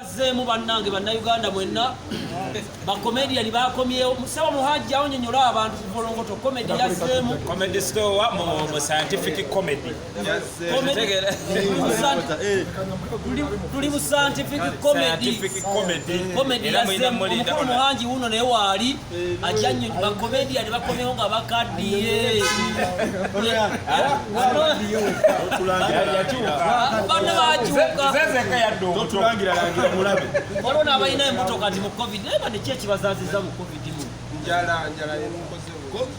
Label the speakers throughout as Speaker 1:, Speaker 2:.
Speaker 1: Azzeemu bannange bannayuganda mwenna bakomediyani bakomyewo musaba muhajja onyonyola abantu kuvolongoto komedi yazzeemu comedy store wa
Speaker 2: mu mu scientific comedy Tegera.
Speaker 1: tuli mu scientific comedy scientific comedy Comedy Era mulina yazzeemu muli- omukulu muhangi wuuno naye waali ajanye bakomedia ne bakomewo nga bakaddiye bana bakyukaolwo n'abalina embuto kati mu covid naye bane ki ekibazaziza mu covid mu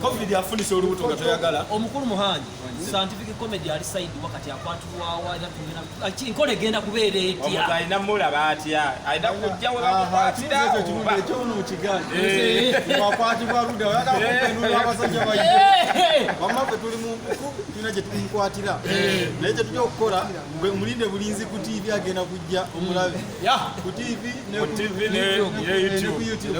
Speaker 3: covid afunisa olubuto nga toyagala omukulu muhangi
Speaker 1: scientific comedy ali side wakati akwatulwawa era tugenda enkola egenda kubeera etya alina mulaba
Speaker 2: atya alina kujja we bamukwatira ekyono
Speaker 3: mukigawakwatibwa luda oyagaabasajja baye wamma fe tuli munkuku tulina gye tumukwatira naye kye tujja okukola mulinde bulinzi ku tiivi agenda kujja omulabe ku tiivi ne ku youtube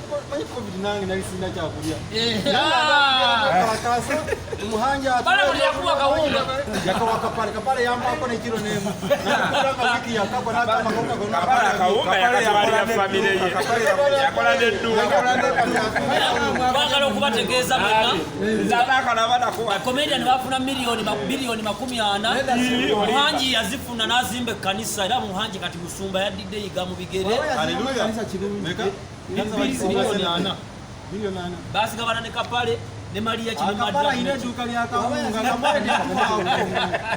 Speaker 2: bagala
Speaker 1: okubategeeza bakomedian
Speaker 2: bafuna
Speaker 1: biliyoni makumi ana muhangi yazifuna n'azimba ekkanisa era muhangi kati musumba yaddidde yiga mu bigere basigabana ne kapale ne maliya kinomaddala ina edduuka
Speaker 3: lya kawunga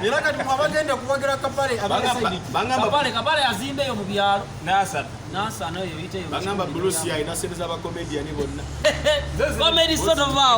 Speaker 3: era kati mwabagenda kuwagira kapale abakapale
Speaker 1: kapale azimbeyo mu byalo nasana
Speaker 3: nasana eyo
Speaker 1: yiteyo
Speaker 3: bagamba bulusi yayina sente
Speaker 1: z'abakomediyani
Speaker 3: bonna
Speaker 1: komedi
Speaker 3: sotovaawo